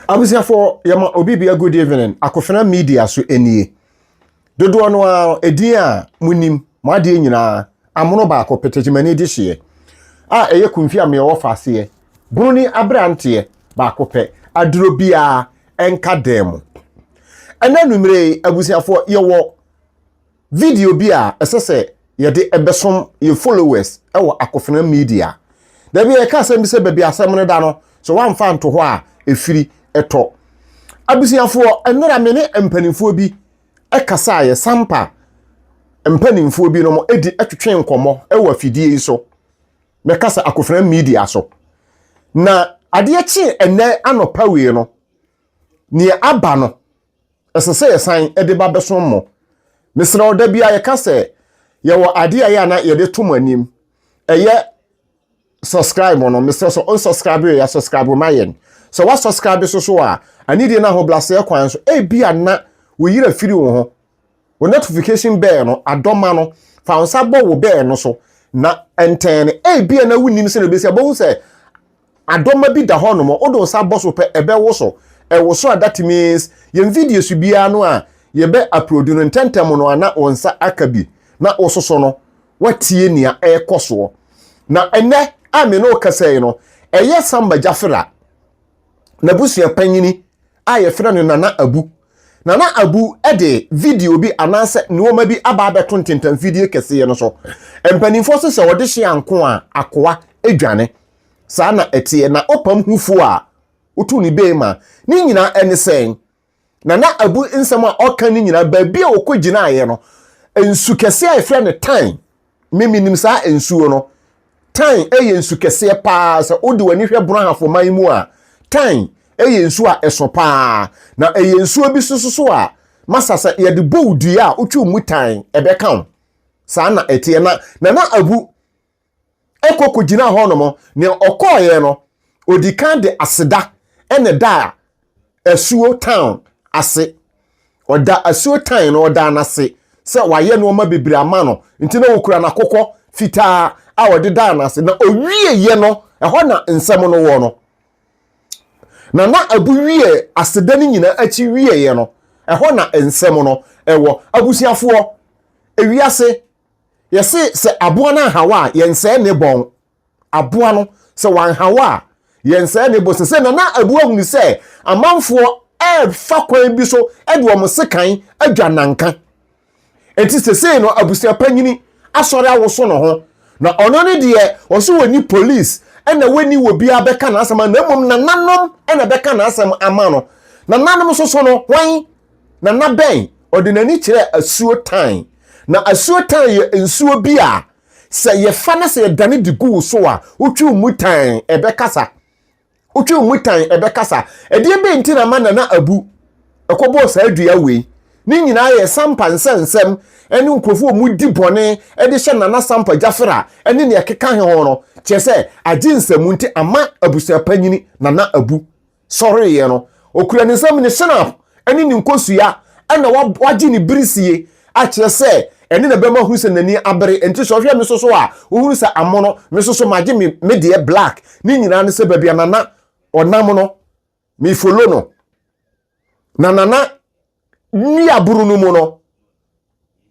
Abusuafoɔ yɛma obi bia good evening akofena media so nie dodoɔ no ara edin a monim mo adeɛ nyinaa amono baako petekyemani de hyeɛ a ɛyɛ kumfi a meɛ wɔfa aseɛ broni abranteɛ baako pɛ aduro biara ɛnka dan mu ɛnɛ numere yi abusuafoɔ yɛwɔ video bi a ɛsɛ sɛ yɛde bɛsom yɛn followers wɔ Akofena Media. Da bi a yɛka asɛm bi sɛ baabi asɛm no da no, sɛ woamfa anto hɔ a, ɛfiri tɔ. Abusuafoɔ, nnora me ne mpanimfoɔ bi kasaeɛ, Sampa mpanimfoɔ bi nom di twetwe nkɔmmɔ wɔ afidie yi so, mɛka sɛ Akofena Media so. Na adeɛ kyee ɛnnɛ anɔpa wei no, nea aba no, Ɛsɛ sɛ yɛsan de ba bɛsom mo. Mesrɛ wo, da biara yɛka sɛ yɛwɔ adeɛ a ɛyɛ a na yɛde to mo anim. Ɛyɛ subscribe no. Mesrɛ sɛ ɔnsubscribe yɛ, subscribe ma yɛn. Sɛ woasubscribe so so a, anidie no ahobrɛaseɛ kwan so, ebi a na wo yere afiri wo ho, wo notification bell no adɔma no, fa wo nsa bɔ wo bell no so na ɛntɛn no. Ebi a na wonim sɛ na ɛbɛsi a, bɛhu sɛ Adɔma bi da hɔ nom a wode wo nsa bɔ so pɛ ɛbɛwoso. Ɛwoso a that means yɛn video so biara no a yɛbɛ upload no ntɛntɛm no ara na wo nsa aka bi na wososo no watie nea ɛrekɔsoɔ. Na ɛnnɛ a me ne wo kasa yi no ɛyɛ Samba Jafera n'abusua panyini a yɛfrɛ no Nana Abu. Nana Abu de video bi anaasɛ nnoɔma bi aba abɛto ntentamfidie kɛseɛ no so. Mpanimfoɔ se sɛ ɔde hye anko a akoa dwane. Saa na ɛteɛ. Na ɔpam hufo a otu ne bee ma. Ne nyinaa ɛne sɛn? Na na abu nsɛm a ɔka no nyinaa, baabi a ɔkɔgyinaeɛ no, nsu kɛseɛ a yɛfrɛ no Tyne, me menim saa nsuo no, Tyne yɛ nsu kɛseɛ paa, sɛ wode w'ani hwɛ Brɔhafo man mu a, Tyne yɛ nsuo a ɛso paa, na ɛyɛ nsuo bi so nso a, masa sɛ yɛde bɔ wo dua a wotwe mu tan, ɛbɛka wo. Saa na ɛteɛ. Na Nana Abu. kɔ kɔgyinaa hɔnom. Nea ɔkɔeɛ no, ɔdi kan de aseda na ɛdaa asuo tan ase. Ɔda asuo tan no, ɔdaa no ase sɛ wɔayɛ nnoɔma bebree ama no, nti na ɔkura n'akokɔ fitaa a ɔde daa no ase. Na ɔwieeɛ no, ɛhɔ na nsɛm no wɔ no. Na na abu wie aseda no nyinaa akyi wieeɛ no, ɛhɔ na nsɛm no wɔ. Abusuafoɔ, ewiase. Yɛse sɛ aboa no anhaw a, yɛnsɛe ne bɔn. Aboa no, sɛ wanhaw a, yɛnsɛe ne bɔn. Sesei Nana Abu ahu no sɛ amanfoɔ refa kwan bi so de wɔn sekan adwa nnanka. Enti sesei no, abusua panyini asɔre awoso ne ho. Na ɔno no deɛ, ɔse ɔnni police na wanni obiara bɛka n'asɛm ano na mmom nananom na bɛka n'asɛm ama no. Nananom nso so no, hwan? na na bɛn? Ɔde n'ani kyerɛɛ asuo tan. Na asuo tan yɛ nsuo bi a sɛ yɛfa na sɛ yɛdane de gu wo so a, wotwe wo mu tan, ɛbɛkasa. Wotwe wo mu tan, ɛbɛkasa. Ɛdeɛ bɛn nti na ma Nana Abu ɛkɔbɔɔ saa dua wei? Ne nyinaa yɛ Sampa nsɛnsɛm ne nkurɔfoɔ a wɔdi bɔne de hyɛ Nana Sampa Gyafera ne nea ɛkeka he ho no. Kyerɛ sɛ, agye nsɛm nti ama abusuapanyini Nana Abu sɔreeɛ no, ɔkura ne nsam ne shenab ne ne nkosua na wagye ne birisie akyerɛ sɛ ɛno na ɛbɛma ɔhunu sɛ n'ani abere. Enti sɛ ɔhwɛ me nso so a, ɔhunu sɛ amono, me nso so magye me me deɛ black. Ne nyinaa ne sɛ baabi a Nana ɔnam no, me follow no. Na Nana nuaburu no mu no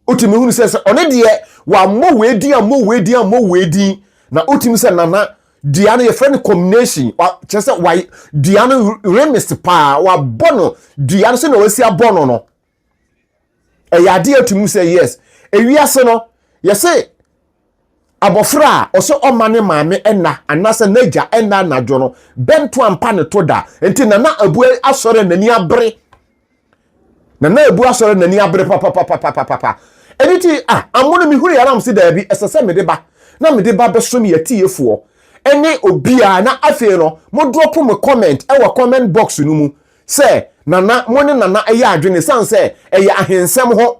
wotumi hunu sɛ sɛ ɔne deɛ wammɔ wei din ammɔ wei din ammɔ wei din na wotumi sɛ nana dua no yɛfrɛ no combination kyerɛ sɛ wa dua no remis paa wabɔ no dua no sɛnea wasi abɔ no no ɛyɛ adeɛ atumi sɛ yes ewiase no yɛsɛ Abofra a ɔsɛ ɔma ne maame nna anaasɛ n'agya nna anadwo no, bɛnto ampa ne to da. Enti Nana Abu asɔre a n'ani abere. Nana Abu asɔre a n'ani abere papapapapapa. Ɛno ti a, amono mehunu yɛ aram se daabi, ɛsɛ sɛ mede ba, na mede ba bɛsom yɛ tiefoɔ. Ɛne obiara, na afei no, mo drop mo comment ɛwɔ comment box no mu sɛ Nana, mo ne Nana ɛyɛ adwene, ɛsiane sɛ ɛyɛ ahensɛm ho.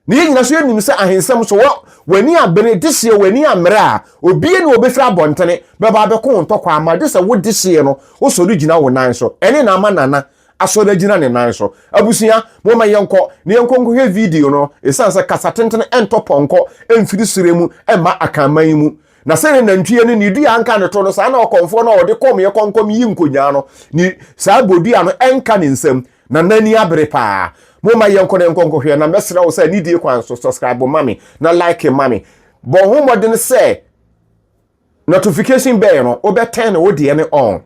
Na yɛn nyina so yɛnim sɛ ahensɛm so wɔ w'ani abene dehyeɛ w'ani ammerɛ a obie ne ɔbɛfiri abɔntene bɛba abɛko wo ntɔkwa ama gye sɛ wo dehyeɛ no wo sɔre gyina wo nan so ɛne na ama Nana asɔre agyina ne nan so abusua momma yɛnkɔ na yɛnkɔ nkɔhwɛ video no ɛsiane sɛ kasa tentene ɛntɔ pɔnkɔ ɛmfiri serɛ mu ɛmma Akanman mu Na sɛ ne nantwie no ne dua nka ne to no, saa na ɔkɔmfoɔ no a ɔde kɔmeɛ kɔnkɔm yi nkonyaa no ne saa bodua no nka ne nsam, na n'ani abere paa. Momma yɛnkɔ na yɛnkɔ nkɔhwɛ, na mɛsrɛ wo sɛ nidie kwan so, subscribe ma me, na like ma me. Bɔ ho mmɔden sɛ notification bell no wobɛ turn wo deɛ no on,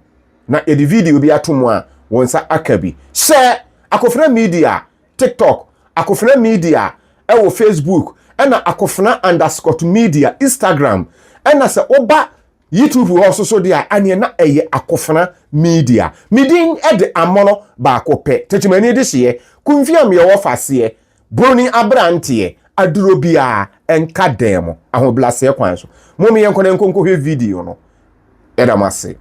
na yɛde video bi ato mu a, wo nsa aka bi. Hyɛ Akofena Media! TikTok, Akofena Media wɔ Facebook, ɛna Akofena underscot Media Instagram. Ɛna sɛ woba YouTube hɔ nso so deɛ a, ɛneɛ na ɛyɛ Akofena Media. Me din de Amono baako pɛ, Tetemani Dehyeɛ, Kumfiam yɛ ɔfaseɛ, Broni abranteɛ, aduro biara nka dan mu, ahobraseɛ kwan so. Mom yɛnkɔ na yɛnkɔ nkɔhwɛ video no. yɛda mo ase.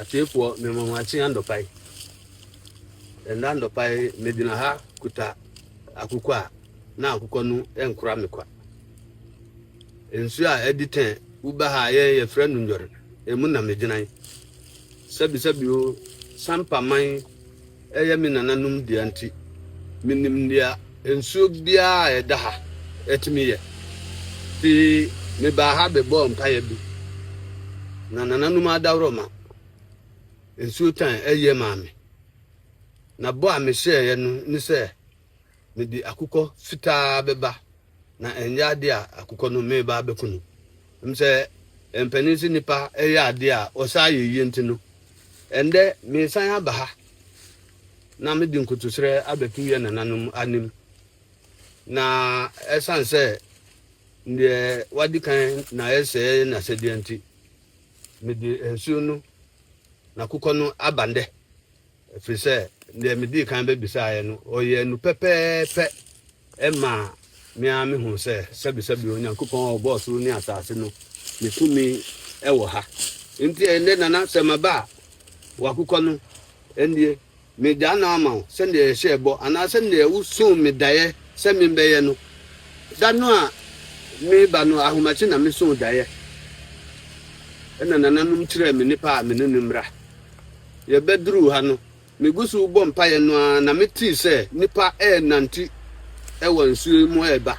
Atiefoɔ mema mo akye anɔpa yi. Ɛnna anɔpa yi megyina ha kuta akokɔ a na akokɔ no nkora me kwa. Nsuo a ɛdi tɛn woba ha a yɛn yɛfrɛ no nnwɔre, emu na megyina yi. Sɛbisɛbi o, Sampaman Ɛyɛ me nananom dea nti, minim nea nsuo biara a ɛda ha tumi yɛ. Enti mebaa ha bɛbɔɔ mpaeɛ bi, na nananom adaworoma nsuo tan yɛ maa me. Na bɔ a mehyɛeɛ no ne sɛ Mede akokɔ fitaa bɛba, na ɛnyɛ ade a akokɔ no mereba abɛko no. Ɛm sɛ mpanin se nnipa yɛ ade a ɔsaa yɛ yie nti no, ɛndɛ meresan aba ha na mede nkotoserɛ abɛto yɛ nananom anim. Na ɛsane sɛ deɛ wadi kan na ayɛ sɛɛ yɛ n'asɛdeɛ nti, mede nsuo no na akokɔ no aba ndɛ. Ɛfiri sɛ deɛ medii kan bɛbisaeɛ no, ɔyɛɛ no pɛpɛɛpɛ. Ɛmaa me ara mehuu sɛ sɛbesɛbe Onyankopɔn a ɔbɔɔ soro ne asase no, ne tumi wɔ ha. Enti ɛnnɛ, Nana, sɛ maba a, wakokɔ no, ɛnnie, megyaa no ama wo sɛdeɛ yɛhyɛɛ bɔ, anaa sɛdeɛ wosoo me daeɛ sɛ membɛyɛ no. Da no a mereba no, ahomakye na mesoo daeɛ, ɛnna nananom kyerɛɛ me nnipa a me ne no mmra. Yɛbɛduruu ha no, megu so rebɔ mpaeɛ no ara na metee sɛ nnipa renante wɔ nsuo yi mu reba.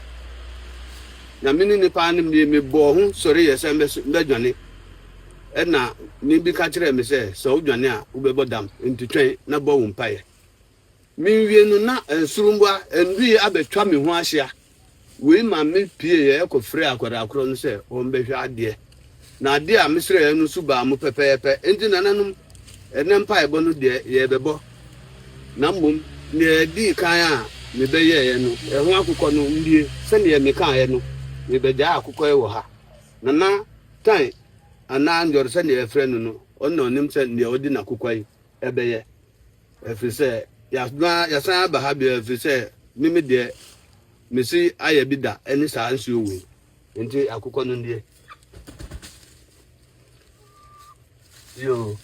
Na me ne nnipa no mmie, mebɔɔ ho sɔreeɛ sɛ mɛdwane. Ɛnna nne bi ka kyerɛɛ me sɛ, Sɛ wodwane a, wobɛbɔ dam, enti twɛn na bɔ wo mpaeɛ. Menwie no na nsoromma nnui abɛtwa me ho ahyia. Wei ma me pieeɛ kɔfrɛɛ akwadaa korɔ no sɛ ɔmmɛhwɛ adeɛ. Na adeɛ a me srɛeɛ no nso baa mu pɛpɛɛpɛ. Enti nananom, ɛnnɛ mpaebɔ no deɛ yɛrebɛbɔ, na mmom deɛ ɛdii kan a me bɛyɛeɛ no, ɛho akokɔ no, nnie. Sɛdeɛ me kaeɛ no, me bɛgyae akokɔ yi wɔ ha. Nana Tan anaa Njor sɛdeɛ yɛfrɛ no no, ɔno na ɔnim sɛ deɛ ɔde n'akokɔ yi bɛyɛ. Ɛfiri sɛ yɛasna, yɛasan aba ha bio, ɛfiri sɛ me me deɛ, mesi ayɛ bi da ɛne saa nsuo wei. Nti akokɔ no nie. Yoo.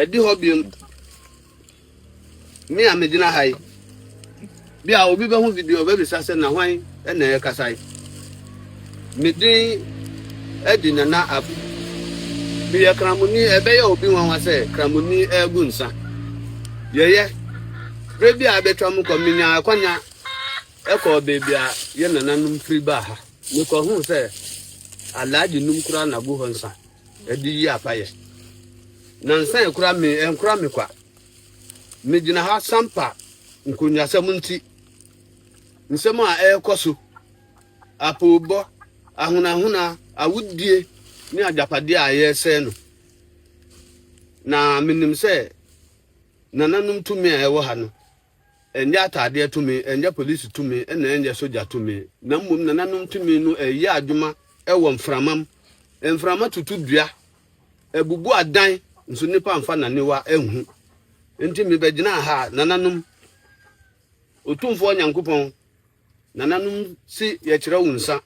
Ɛdi hɔ bio, me a megyina ha yi, bi a obi bɛho video ɔbɛbisa sɛ na hwan na ɛrekasa yi. Me din adi Nana Abu. Meyɛ Kramoni, ɛbɛyɛ obi nwanwa sɛ Kramoni regu nsa. Yɛyɛ, berɛ bi a abɛtwa mu kɔ, menya akwanya ɛkɔɔ baabi a yɛ nananom firi baa ha. Mekɔhuu sɛ Alhaji num koraa na gu hɔ nsa. Ɛde yi apa yɛ. Nansa yɛ kora me ɛnkora me kwa. Me gyina ha sampa nkonwasɛm nti. Nsɛm a ɛrekɔ so, apoobɔ, ahonahona, awudie ne agyapadeɛ a yɛresɛe no. Na menim sɛ nananom tumi a ɛwɔ ha no. Ɛnyɛ ataadeɛ tumi, ɛnyɛ polisi tumi, ɛna ɛnyɛ sogya tumi, na mmom nananom tumi no ɛyɛ adwuma ɛwɔ mframam. Mframa tutu dua, ɛbubu adan, nso nnipa nfa naniwa nhu. Nti me bɛgyinaa ha, nananom, Otumfoɔ Nyankopɔn, nananom si yɛkyerɛ wo nsa.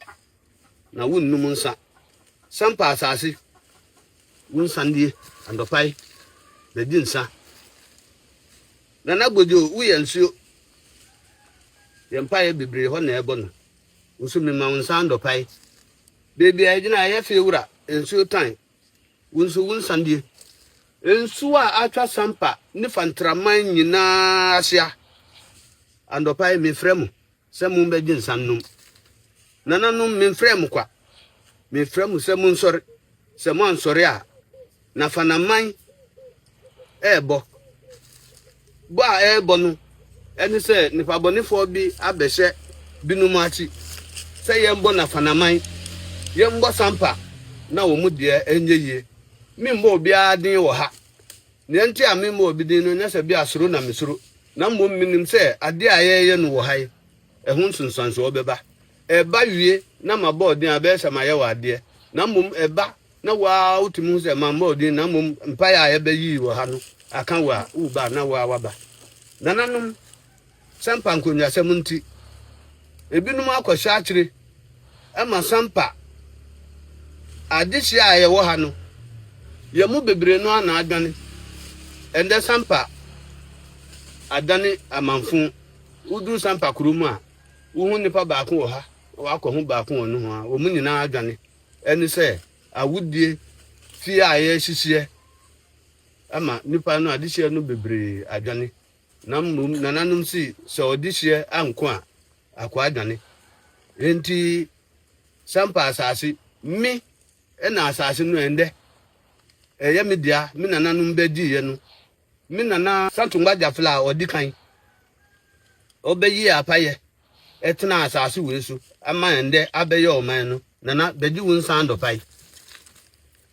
na wonnom nsa. Sampa asase, wo nsa nie anɔpa yi, na di nsa. Nana Gbojo, woyɛ nsuo. Yɛn mpaeɛ bebree hɔ na ɛbɔ no. Wo nso mema wo nsa anɔpa yi. Baabi a yɛgyina ayɛ fee wura, nsuo tan. Wo nso wo nsa nie. Nsuo a atwa Sampa ne Fantraman nyinaa ahyia. Anɔpa yi mefrɛ mo. Sɛ mombɛgye nsa nnom. Nananom, memfrɛɛ mo kwa. Mefrɛ mo sɛ monsɔre. Sɛ moansɔre a, na Fanaman rebɔ. Bɔ a ɛrebɔ no ne sɛ nnipabɔnefoɔ bi abɛhyɛ binom akyi sɛ yɛmbɔ na Fanaman, yɛmbɔ Sampa na wɔn deɛ ɛnyɛ yie. Memmɔ obiara den wɔ ha. Nea enti a memmɔ obi din no nyɛ sɛ ebia suro na misuro, na mmom minim sɛ ade a yɛreyɛ no wɔ ha yi, ɛho nsunsuanso bɛba. Ɛba wie na mabɔ wo din a, ɛbɛyɛ sɛ mayɛ wo adeɛ, na mmom ɛba na wo ara wutumi hu sɛ mammɔ wo din na mmom mpae a yɛbɛyii wɔ ha no aka wo a, woreba a na wo ara woaba. Nananom. Sampa nkonnwasɛm nti, ebinom akɔhyɛ akyere ma Sampa adehye a yɛwɔ ha no. Yɛn mu bebree no ara na adwane. Ɛnnɛ Sampa adane amanfõ. Woduru Sampa kuro mu a, wohu nnipa baako wɔ ha na woakɔhu baako wɔ nohoa. Wɔn nyinaa adwane. Ɛne sɛ awodie fie a yɛrehyehyeɛ ama nnipa no, adehyeɛ no bebree adwane. Na mmom nananom se, Sɛ ɔdehyeɛ anko a, akoa adwane. Enti san pa asase. Me na asase no ɛndɛ. Ɛyɛ me dea, me nananom bɛgyeeɛ no. Me nana. Santungba Gyafla a ɔdi kan, ɔbɛyee apayɛ tenaa asase wei so ma ɛndɛ abɛyɛ ɔman no. Nana, bɛgye wo nsan dɔpae.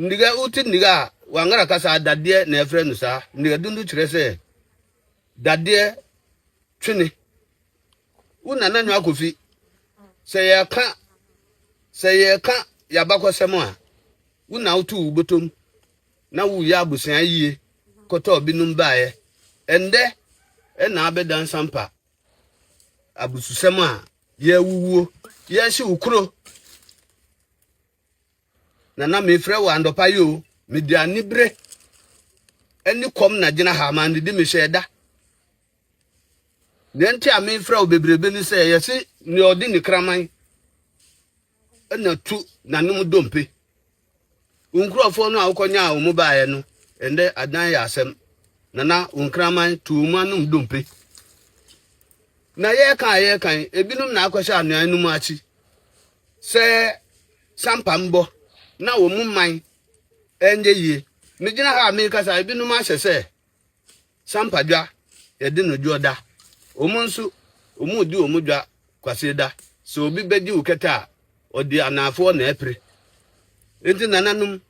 Nnua, wote nnua a Wangara kasa a dadeɛ na ɛfrɛ no saa. Nnuadundu kyerɛ sɛ dadeɛ twene. Wo nana nwa akofi sɛ yɛka sɛ yɛka yɛabakɔsɛm a wo na woto wo botom na woyɛ abusua yie kɔtɔɔ binom baeɛ. Ɛndɛ ɛna abɛda nsampa abususɛm a yɛawuwuo yɛahye wo kuro Nana mefrɛ wo anɔpa yi o, mede anibere ne kɔm na gyina ha ma ndidi mehyɛ ɛda. Nea nti a mefrɛ wo bebrebe ne sɛ yɛse nea ɔde ne kraman na tu nanom dompe. Wo nkurɔfoɔ no a wokɔnyaa wɔn baeɛ no, ɛndɛ adan yɛ asɛm. Nana wo nkraman tu wɔn anom dompe. Na yɛka a yɛkan, ebinom na akɔhyɛ anuan no mu akyi. sɛ sampa mbɔ na wɔn mman nyɛ yie. Megyina ha a merekasa yi, ebinom ahyɛ sɛ sampa dwa yɛde no dwoɔ da. Wɔn nso, wɔredi wɔn dwa Kwasieda. Sɛ obi bɛgye wo kɛtɛ a, ɔde anaafoɔ na ɛpere. Enti nananom,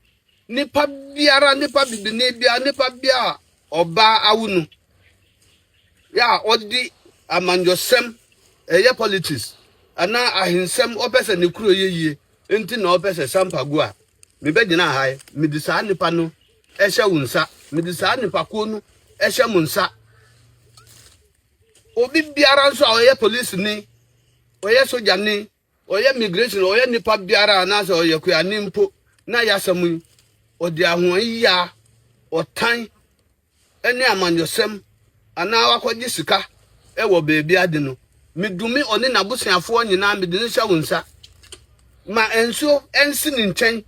nipa biara, nipa bibini biara, nipa biara a ɔbaa awo no, Yɛ a ɔde amanyɔsɛm, ɛyɛ politics anaa ahensɛm, ɔpɛ sɛ ne kuro yɛ yie nti na ɔpɛ sɛ sampa gu a, mebɛgyina ha yi, mede saa nipa no hyɛ wo nsa, mede saa nipakuo no hyɛ mo nsa. Obi biara nso a ɔyɛ polisini, ɔyɛ sogyani, Ɔyɛ migration, ɔyɛ nipa biara anaasɛ ɔyɛ kuani mpo na yasɛm yi, ɔde ahoayia, ɔtan ne amanyɔsɛm anaa wakɔgye sika wɔ baabi ade no, medumi ɔne n'abosuafoɔ nyinaa mede no hyɛ wo nsa. Ma nsuo nsi ne nkyɛn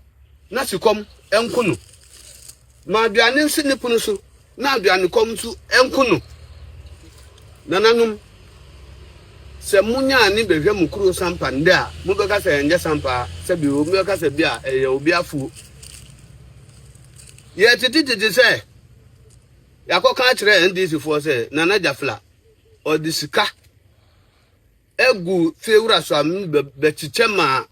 na sikɔm nku no. Ma aduane nsi ne pono so Na aduanekɔm nso nku no. Nananom, sɛ monya ani bɛhwɛ mo kuro sampa nnɛ a, mobɛka sɛ ɛnyɛ sampa a, sɛbi obi bɛka sɛ bi a ɛyɛ obi afuo. Yɛtete tete sɛ yɛakɔka akyerɛ NDC foɔ sɛ Nana Jafla ɔde sika agu fie wura so a bɛkyekyɛ ma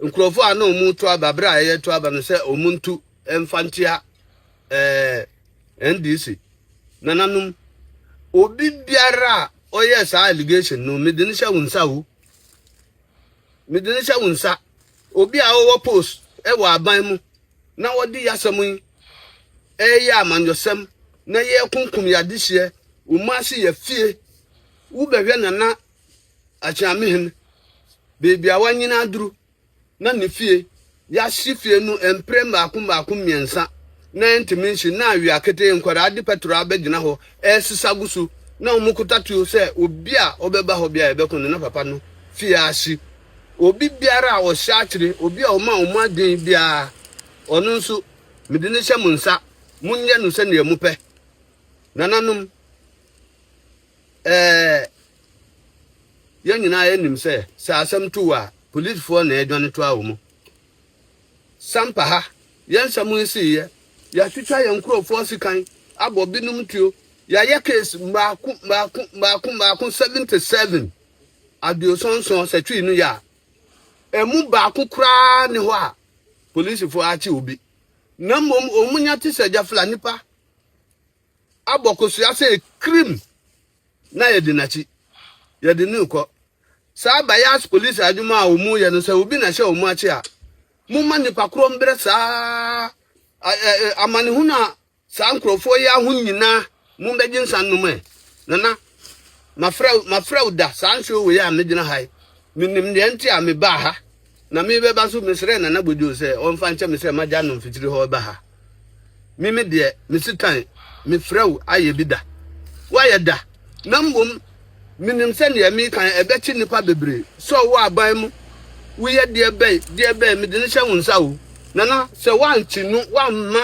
nkurɔfoɔ a na wɔn to aba berɛ a ɛyɛ to aba no sɛ wɔn ntu mfa nkyia ɛɛ eh, NDC nananom obi biara a ɔyɛ saa allegation no mede no hyɛ wo nsa o mede no hyɛ wo nsa obi a ɔwɔ post ɛwɔ aban mu na wɔde yasɛm yi ɛyɛ amanyɔsɛm na yɛ kunkum yɛ adehyeɛ wɔn ase yɛ fie. Wo bɛhwɛ Nana Akyeamehin baabi a wanyini aduru na ne fie yɛahye fie no mpre mmaako mmaako mmiɛnsa na ɛntumi nhye na awia ketee nkwadaa de pɛtro abɛgyina hɔ ɛresesa gu so na wɔn kota tuo sɛ obi a ɔbɛba hɔ bia yɛbɛko no na papa no fie ahye obi biara a ɔhyɛ akyere obi a ɔma wɔn adwene biara ɔno nso mede ne hyɛ mo nsa monyɛ no sɛdeɛ mopɛ nananom Ɛɛ, yɛn nyinaa ara nim sɛ, sɛ asɛm to wo a, polisfoɔ na ɛredwane toa wo mu. Sampa ha, yɛn nsɛm nsiiɛ, yɛatwitwa yɛn nkurɔfoɔ sekan, abɔ binom tuo, yɛayɛ case mmaako mmaako mmaako mmaako 77, aduoson nson, sɛ twii no yɛ a, ɛmu baako koraa nni hɔ a polisfoɔ akye obi. Na mmom wɔn nya te sɛ gyafla nnipa abɔ kosua sɛ kirim na yɛdi n'akyi, yɛde no rekɔ. Saa biased police adwuma a wɔn reyɛ no sɛ obi na ɛhyɛ wɔn akyi a, momma nnipa korɔ mbrɛ saa ɛ ɛ amanehunu a saa nkurɔfoɔ yi aho nyinaa mombɛgye nsa nnom ɛ. Nana, mafrɛ wo mafrɛ wo da saa nsuo wei a megyina ha yi, menim deɛ nti a mebaa ha Na me bɛba so mesrɛɛ Nana Gwadwo sɛ ɔmfa nkyɛ me sɛ magya no mfikyiri hɔ reba ha. Me me deɛ, me Sitan, mefrɛ wo ayɛ bi da. Woayɛ da. Na mmom menim sɛ deɛ mereka yi ɛbɛkye nnipa bebree. Sɔɔ wo aban mu. Woyɛ deɛ bɛn, deɛ bɛn, mede no hyɛ wo nsa o. Nana, sɛ woankye no, woamma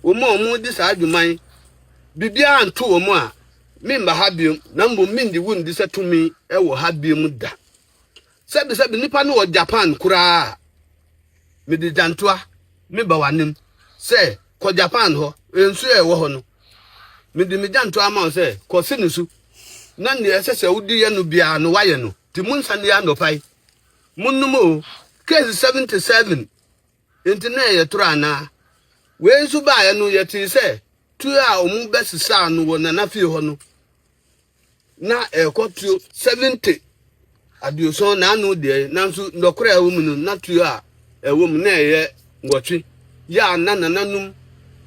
wɔn a wɔredi saa dwuma yi biribiara anto wɔn a, meremma ha bio. Na mmom merennye wo nni sɛ tumi wɔ ha bio da. sɛbi sɛbi nipa no wɔ japan koraa mede gyantoa me ba w'anim sɛ kɔ japan hɔ nsuo a ɛwɔ hɔ no mede me gyantoa ama wo sɛ kɔ si ne so na nea ɛsɛ sɛ wode yɛ no biara no wayɛ no nti monsa ne anɔpa yi monnom o case 77 nti na ɛyɛ toro anaa wei nso baeɛ no yɛtee sɛ tuo a wɔn bɛsesaa no wɔ nana fie hɔ no na ɛrekɔ tuo seventy aduoson na ano deɛ nanso nnɔkora a ɛwɔ mu no na tuo a ɛwɔ mu na ɛyɛ nwɔtwe yɛ a na nananom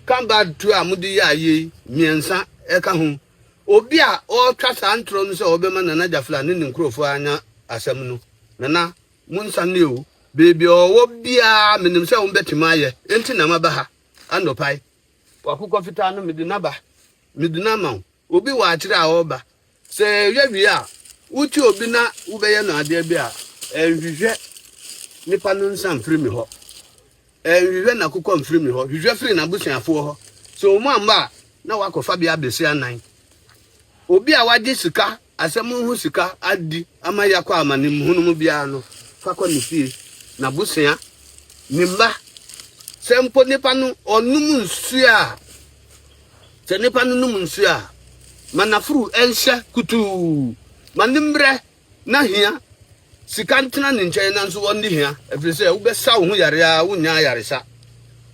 kambad tuo a mode yɛ ayɛ yi mmiɛnsa ɛka ho obi a ɔretwa saa ntorɔ no sɛ ɔbɛma nana gyafla ne ne nkurɔfoɔ anya asɛm no nana monsa ne o beebi ɔwɔ biara menim sɛ wombɛtumi ayɛ enti na maba ha anɔpae W'akokɔ fitaa no, mede no aba. Mede no ama wo. Obi wɔ akyire a ɔreba. Sɛ ɛyɛ wie a, wote obi na wobɛyɛ no adeɛ bi a, ɛnhwehwɛ nipa no nsa mfiri me hɔ. Ɛnhwehwɛ n'akokɔ mfiri me hɔ. Hwehwɛ firi n'abusuafoɔ hɔ. Sɛ wɔn amma a, na woakɔfa bi abɛsi anan. Obi a wagye sika asɛm ho sika adi ama yɛakɔ amanem hunu mu biara no, fa kɔ ne fie, n'abusua, ne mma. Sɛ mpo nipa no ɔnom nsuo a, sɛ nipa no nom nsuo a, ma n'afuru nhyɛ kutuu, ma ne mmerɛ na hia sika ntena ne nkyɛn nanso ɔnni hia, ɛfiri sɛ wobɛsa wo ho yare ara wonnya ayaresa.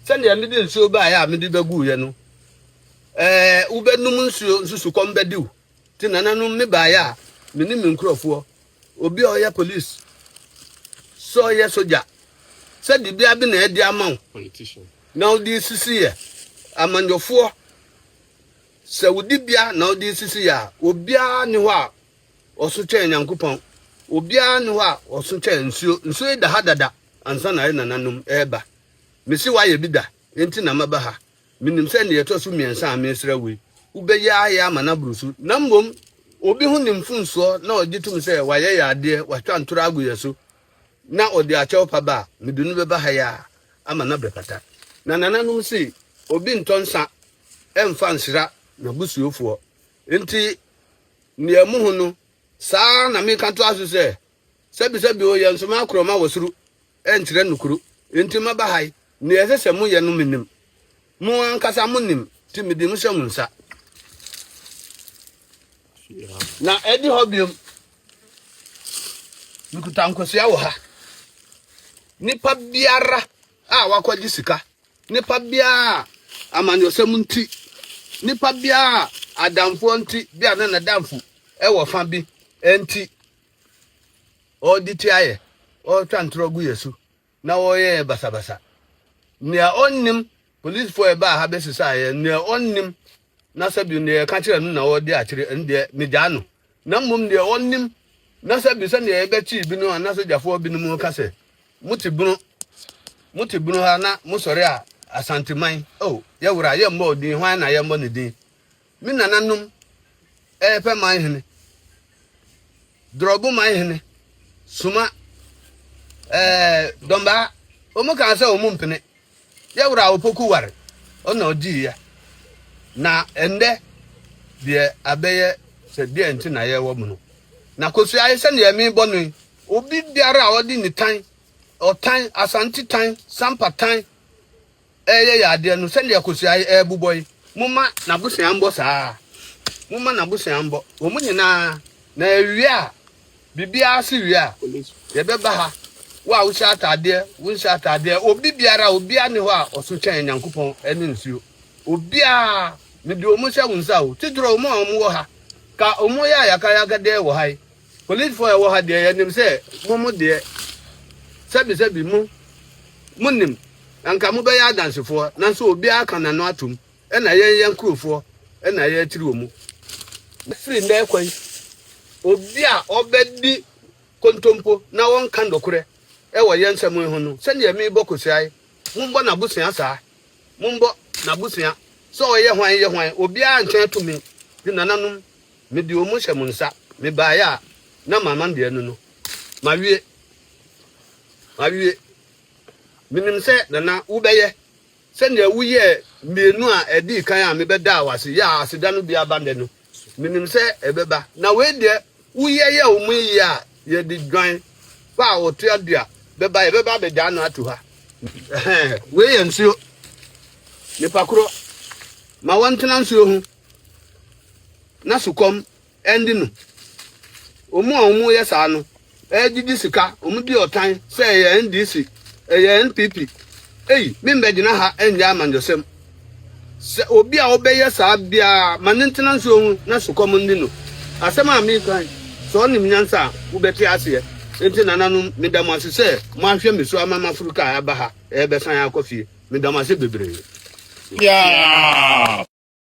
Sɛdeɛ mede nsuo baeɛ a mede bɛguuɛ no. Ɛɛ, wobɛnom nsuo nso sukɔm bɛde wo. Nti nananom me baeɛ a, me ne me nkurɔfoɔ, obi a ɔyɛ police, sɛ ɔyɛ sogya, sɛ dibea bi na ɛde ama wo na wode sisi yɛ amanyɔfoɔ, sɛ wo dibea na wode sisi yɛ a, obiara ne hɔ a ɔso kyɛn Nyankopɔn, obiara ne hɔ a ɔso kyɛn nsuo. Nsuo yi da ha dada ansa na yɛ nananom ɛreba. Mese wayɛ bi da, enti na maba ha. Minim sɛ nea ɛtɔ so mmiɛnsa a meresrɛ wo yi, wobɛyɛ ayɛ ama no aboro so. Na mmom obi ho ne mfomsoɔ na ɔgye tom sɛ wayɛ yɛn adeɛ, watwa ntorɔ agu yɛn so, na ɔde akyɛw pa ba a, mede no bɛba ha yi ara ama no abɛfata. Na nananom se, Obi ntɔ nsã mfa nsra n'abusuofoɔ. Enti nea mohu no, saa ara na meka toa so sɛ, Sɛbisɛbi o, yɛn soma koro ma wɔ soro nkyerɛ nokoro, enti maba ha yi, nea ɛsɛ sɛ moyɛ no minim. Mo ankasa munim, nti mede mo hyɛ mo nsa. Na ɛde hɔ biom, mekuta nkosua wɔ ha. Nipa biara a wakɔgye sika, nipa biara a amanyɔsɛm nti, nipa biara a adamfoɔ nti, bi a na n'adamfo ɛwɔ fa bi nti, wɔde tia yɛ, wɔtwa ntorɔ gu yɛ so, na wɔyɛ yɛ basabasa. Nea ɔnnim, polisifo a ɛbaa ha bɛsesaa yɛ, nea ɔnnim, na sɛ bi nea yɛka kyerɛ no na ɔde akyerɛ, ɛno deɛ megyaa no. Na mmom deɛ ɔnnim, na sɛ bi sɛdeɛ yɛbɛkyee binom a na sogyafoɔ binom ka sɛ, mote bunu, mote bunu ha na mosɔre a Asanteman, oh, yɛwura, yɛmmɔ odin, hwan na yɛmmɔ ne din? Me nananom repɛ man hene, Dorɔbo man hene, Suma, ɛɛ, Dɔmbaa, wɔn kaa sɛ wɔn mpene. Yɛ wura Opoku ware, ɔna ɔgye yɛ. Na ɛndɛ deɛ abɛyɛ sɛ deɛ nti na yɛwɔ mu no. Na kosua yi sɛdeɛ mebɔ no yi, obi biara a ɔde ne tan, ɔtan, asante tan, sampa tan, reyɛ yɛn adeɛ no sɛdeɛ akosua yi rebobɔ yi momma n'abosea mbɔ saa momma n'abosea mbɔ wɔn nyinaa na ɛwie a biribiara se wie a yɛbɛba ha wo a wohyɛ ataadeɛ wonhyɛ ataadeɛ obi biara obiara ne hɔ a ɔso kyɛn nyankopɔn ɛne nsuo obiara mede wɔn hyɛ wo nsa o tidorɔ wɔn a wɔn wɔ ha ka wɔn yɛ ayakayakadeɛ wɔ ha yi Korinthfo a ɛwɔ ha deɛ, yɛnim sɛ mo mo deɛ, sɛbisɛbi mo, monim, anka mobɛyɛ adansefoɔ, nanso obiara ka n'ano atom, ɛna yɛn yɛn nkurofoɔ na ɛyɛ atiri wɔ mu. Na firi nnɛ rekɔ yi, obi a ɔbɛdi kontompo na ɔnka nokorɛ wɔ yɛn nsɛm yi ho no, sɛdeɛ merebɔ kosiae, mombɔ n'abusua saa, mombɔ n'abusua, sɛ ɔyɛ hwan yɛ hwan, obiara ntwɛn tumi, de nananom Mede wɔn hyɛ mo nsa. Mebaeɛ a, na mama mmienu no. Mawie. Mawie. Menim sɛ, Nana, wobɛyɛ sɛdeɛ woyɛɛ mmienu a ɛdii kan a mebɛdaa wo ase yɛɛ a aseda no bi aba nnɛ no. Menim sɛ ɛbɛba. Na wei deɛ, woyɛ yɛɛ wɔn yie a, yɛde dwan pa a ɔtoa du a bɛba, yɛbɛba abɛgyaa no ato ha. Ɛhɛɛ, wei yɛ nsuo. Nipa korɔ, ma wɔntena nsuo ho. na sukɔm ɛnde no. Wɔn a wɔyɛ saa no ɛregyegye sika, wɔdi ɔtan sɛ ɛyɛ NDC, ɛyɛ NPP. Ei, membɛgyina ha nyɛ amanyɔsɛm. Sɛ obi a ɔbɛyɛ saa biara ma ne ntena nsuo ho na sukɔm nni no, asɛm a mereka yi, sɛ ɔnim nyansa a, wobɛte aseɛ. Enti nananom, meda mo ase sɛ moahwɛ me so ama maforo kaa aba ha, ɛrebɛsan akɔ fie. Meda mo ase bebree. Yeah!